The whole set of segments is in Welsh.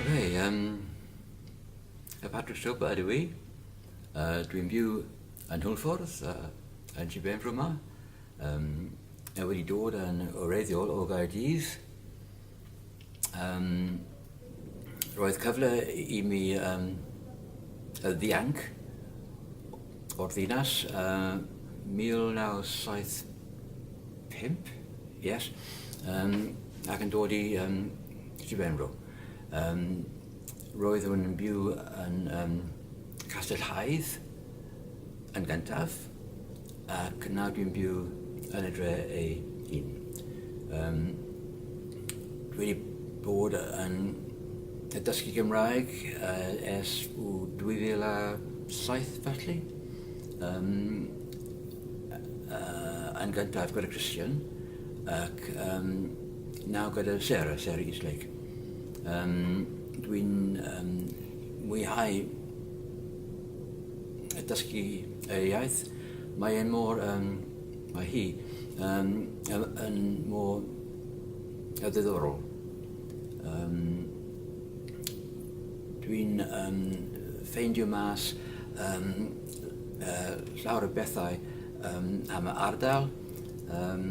Oce, um, y Patrick Stopa ydw i. Uh, Dwi'n byw yn Hwlffordd, uh, yn Sir Benfro yma. Um, a wedi dod yn oreiddiol o Gaerdydd. Um, roedd cyfle i mi um, y ddianc o'r ddinas uh, 1975, yes, um, ac yn dod i um, Sir Benfro. Um, roeddwn yn byw yn um, Castell Haidd yn gyntaf, ac nawr dwi'n byw yn y dre ei hun. Um, dwi wedi bod yn y dysgu Gymraeg uh, ers 2007 felly. Um, uh, yn gyntaf gyda Christian ac um, Nawr gyda Sarah, Sarah Eastlake, um, dwi'n um, mwyhau y dysgu y iaith. Mae e'n mor, um, mae hi um, yn mor y ddiddorol. Um, dwi'n um, ffeindio mas um, uh, llawer o bethau um, am y ardal, um,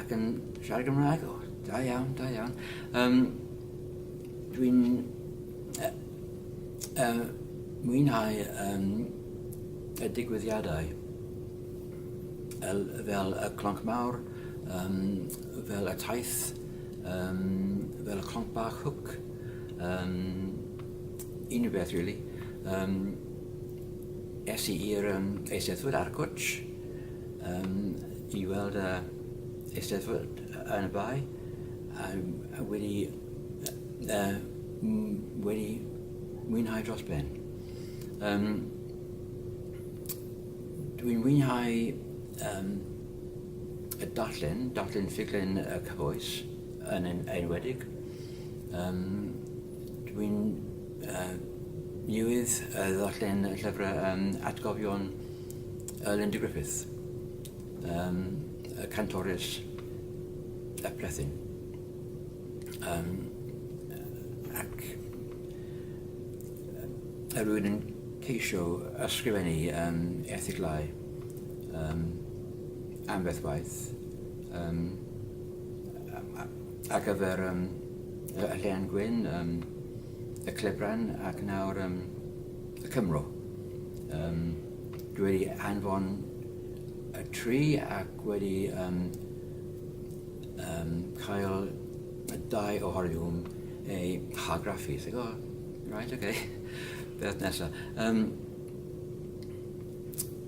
Ac yn siarad Gymraeg, o, da iawn, da iawn. Um, Dwi'n uh, uh, mwynhau um, y digwyddiadau fel, fel y clonc mawr, um, fel y taith, um, fel y clonc bach hwc, um, unrhyw beth, really. Um, es i i'r um, eisteddfod ar Gwtch, um, i weld y uh, eisteddfod yn y bae a, a wedi, uh, wedi mwynhau dros ben. Um, Dwi'n mwynhau um, y darllen, darllen ffuglen y cyfoes yn enwedig. Um, Dwi'n uh, newydd uh, ddarllen y llyfrau um, atgofion uh, Linda Griffith, um, a cantores a plethyn. Um, ac a rwy'n yn ceisio ysgrifennu um, erthiglau um, am beth waith um, ar gyfer um, y Llean Gwyn, um, y Clebran ac nawr um, y Cymro. Um, dwi wedi anfon y tri ac wedi um, um, cael y dau o horiwm ei hargraffu. Ti'n gwybod? Right, oce. Okay. Beth nesaf. Um,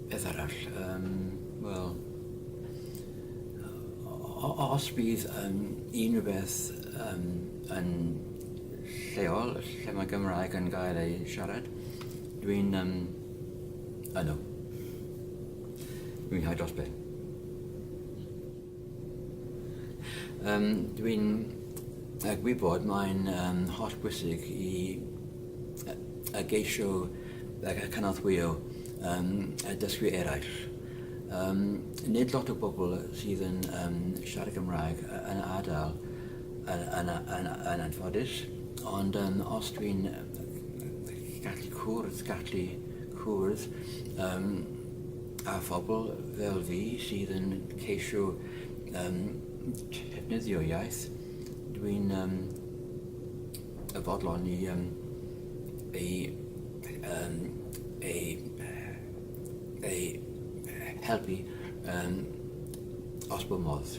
beth arall? Um, Wel, os bydd um, unrhyw beth um, yn lleol lle mae Gymraeg yn gael ei siarad. Dwi'n um, yno. Dwi'n hau dros ben. Um, Dwi'n uh, gwybod mae'n um, holl bwysig i uh, y geisio ac y cynorthwyo um, y dysgu eraill. Um, nid lot o bobl sydd yn um, siarad Gymraeg yn adael yn, yn, yn anffodus, ond um, os dwi'n gallu cwrdd, gallu cwrdd um, a phobl fel fi sydd yn ceisio um, defnyddio iaith, dwi'n um, y fodlon i um, ei, um, ei, ei helpu um, os bod modd.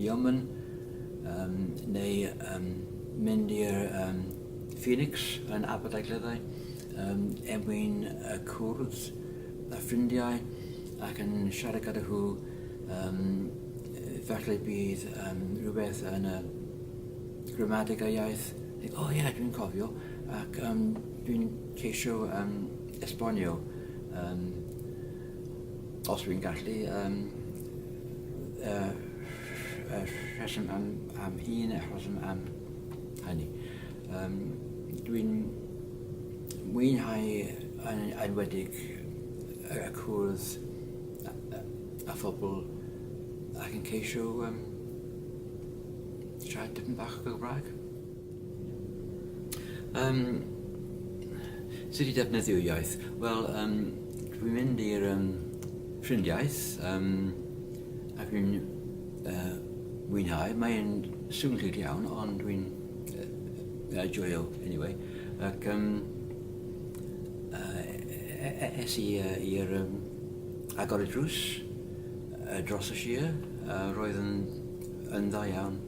Yemen um, neu um, mynd i'r um, Phoenix yn Aberdaugleddau um, er mwyn y cwrdd a ffrindiau ac yn siarad gyda nhw um, falle bydd um, rhywbeth yn y gramadeg a iaith o oh, ie yeah, dwi'n cofio ac um, dwi'n ceisio um, esbonio um, Os dwi'n gallu um, uh, rheswm am, am un a rheswm am hynny. Um, dwi'n mwynhau yn enwedig y cwrdd a phobl ac yn ceisio um, siarad dipyn bach o Gymraeg. Um, sut i defnyddio iaith? Wel, um, dwi'n mynd i'r um, ffrindiaeth um, ac dwi'n uh, mwynhau. Mae'n swn clic iawn, ond dwi'n uh, joio anyway. Ac um, uh, es i uh, i'r um, agor y drws uh, dros y sir, uh, roedd yn, yn dda iawn.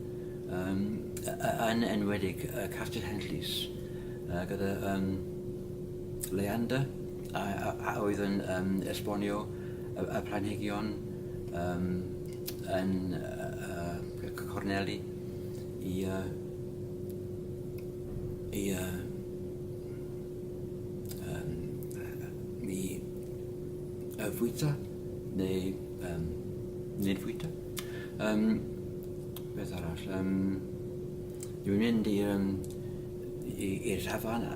Yn yn enwedig uh, Castell Henllys uh, gyda um, Leander a, a, a oedd yn um, esbonio y, y planhigion um, yn uh, uh, Corneli i uh, i uh, um, i uh, fwyta neu um, nid fwyta. Um, beth arall? Um, dwi'n mynd i'r um, i'r llafan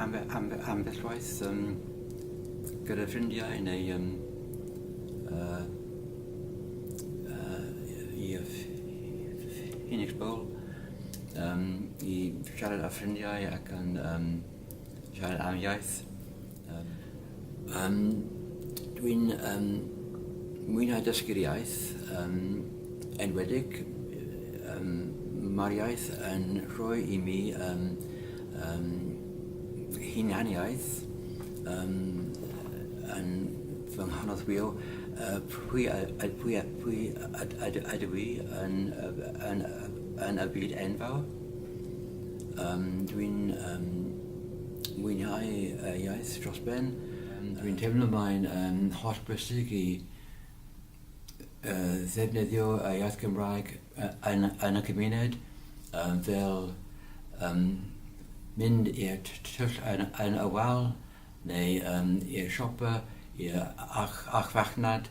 ambell waith um, gyda ffrindiau neu um, uh, uh, i Phoenix Bowl um, i siarad â ffrindiau ac yn um, siarad am iaith. Um, um, Dwi'n um, mwynhau dysgu'r iaith, um, enwedig um, mae'r iaith yn rhoi i mi um, um, hunaniaeth um, yn fy nghanolbio uh, pwy, pwy, pwy, pwy ydw i yn, yn, yn, yn y byd enfawr. Um, Dwi'n um, mwynhau y iaith dros ben. Dwi'n teimlo mae'n um, holl bwysig i uh, ddefnyddio y iaith Gymraeg yn, yn y cymuned um, fel um, mynd i'r tyll yn, yn y wal neu um, i'r siopa, i'r ach, ach fachnad